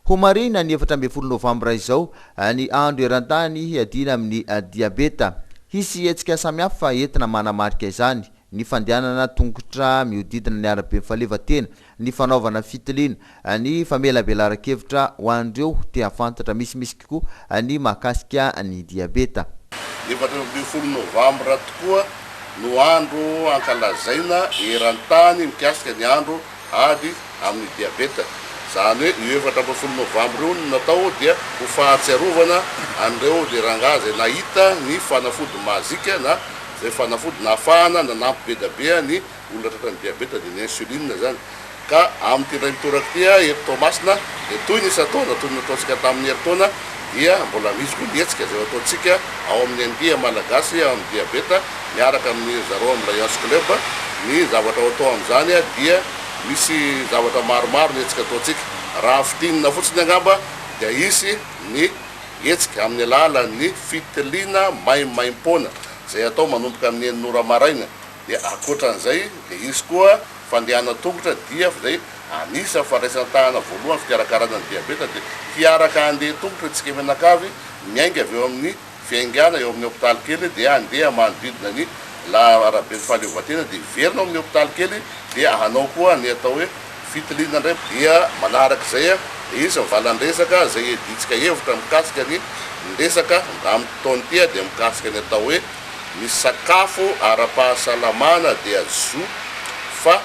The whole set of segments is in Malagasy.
Ho marihina ny efatra ambin'ny folo novambra izao ny andro eran-tany hiadiana amin'ny diabeta. Hisy hetsika samihafa entina manamarika izany, ny fandehanana tongotra mihodidina ny arabe fahaleovantena, ny fanaovana fitiliana, ny famelabelaran-kevitra ho an'ireo te-hahafantatra misimisy. tokoa ny mahakasika ny diabeta. Efatra ambin'ny folo novambra tokoa no andro hankalazaina eran-tany mikasika ny andro ady amin'ny diabeta. Izany hoe io efatra ambin'ny folo novambra io no natao dia ho fahatsiarovana an'ireo dia rangahy izay nahita ny fanafody mazika na izay fanafody nahafahana nanampy be dia be ny olona tratran'ny diabeta dia ny insuline izany ka amin'ity indray mitoraka ity a eto Toamasina dia toy ny isan-taona toy ny nataontsika tamin'ny herintaona dia mbola misy koa ny hetsika izay ataontsika ao amin'ny andia malagasy amin'ny diabeta miaraka amin'ny ry zareo amin'ny Lions Club ny zavatra ao atao amin'izany a dia misy zavatra maromaro ny hetsika ataontsika raha fintinina fotsiny angamba dia hisy ny hetsika amin'ny alalan'ny fitiliana maimaim-poana izay atao manomboka amin'ny enina ora maraina Dia ankoatran'izay dia hisy koa fandehana tongotra, dief, izay anisa fandraisan-tahana voalohany fikarakarana ny diabeta dia hiaraka handeha tongotra isika mianakavy miainga avy eo amin'ny fiaingana eo amin'ny hopitaly kely dia handeha manodidina ny la araben'ny fahaleovantena dia hiverina ao amin'ny hopitaly kely dia hanao koa ny atao hoe Fitiliana indray dia manaraka izay dia izy mivalan-dresaka izay hiadiantsika hevitra mikasika ny ny resaka amin'ity fotoana ity dia mikasika ny atao hoe ny sakafo ara-pahasalamana dia zo fa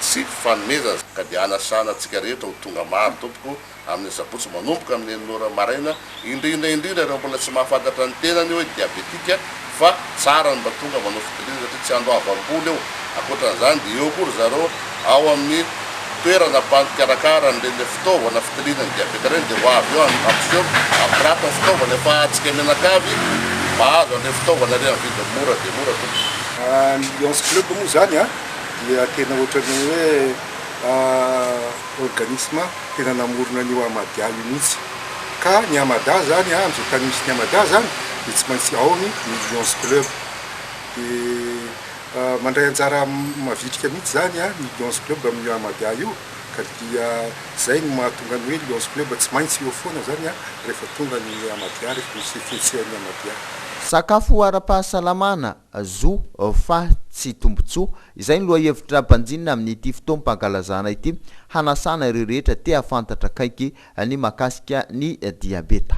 tsy fanomezana ka dia hanasana antsika rehetra ho tonga maro tompoko. amin'ny asabotsy manomboka amin'ny enina ora maraina, indrindra indrindra ireo mbola tsy mahafantatra ny tenany hoe diabetika, fa tsara ny mba tonga manao fitiliana satria tsy andro avo am-bolo eo, ankoatran'izany dia eo koa ry zareo ao amin'ny toerana mpikarakara an'ireny ilay fitaovana fitiliana ny diabeta ireny dia ho avy eo hampiseho hampirafy ny fitaovana efa ahatsika mianakavy mahazo an'ireny fitaovana ireny amin'ny vidiny mora dia mora tompoko. Ny Lions Club moa izany dia tena ohatran'ny hoe. organisme tena namorona an'io Ahmadiyya io mihitsy. Ka ny Ahmada zany an, amin'izao tany misy ny Ahmada zany dia tsy maintsy ao ny New Lions Club. Dia mandray anjara mavitrika mihitsy zany an ny Lions Club amin'io Ahmadiyya io, ka dia zay no mahatonga ny hoe Lions Club tsy maintsy eo foana zany an rehefa tonga ny Ahmadiyya, rehefa misy fihetseham' ny Ahmadiyya. Sakafo ara-pahasalamana, Zo, fa tsy tombontsoa. Izay ny lohahevitra mpanjinina amin'ity fotoam-pankalazana ity, hanasana ireo rehetra te-hahafantatra akaiky ny mahakasika ny diabeta.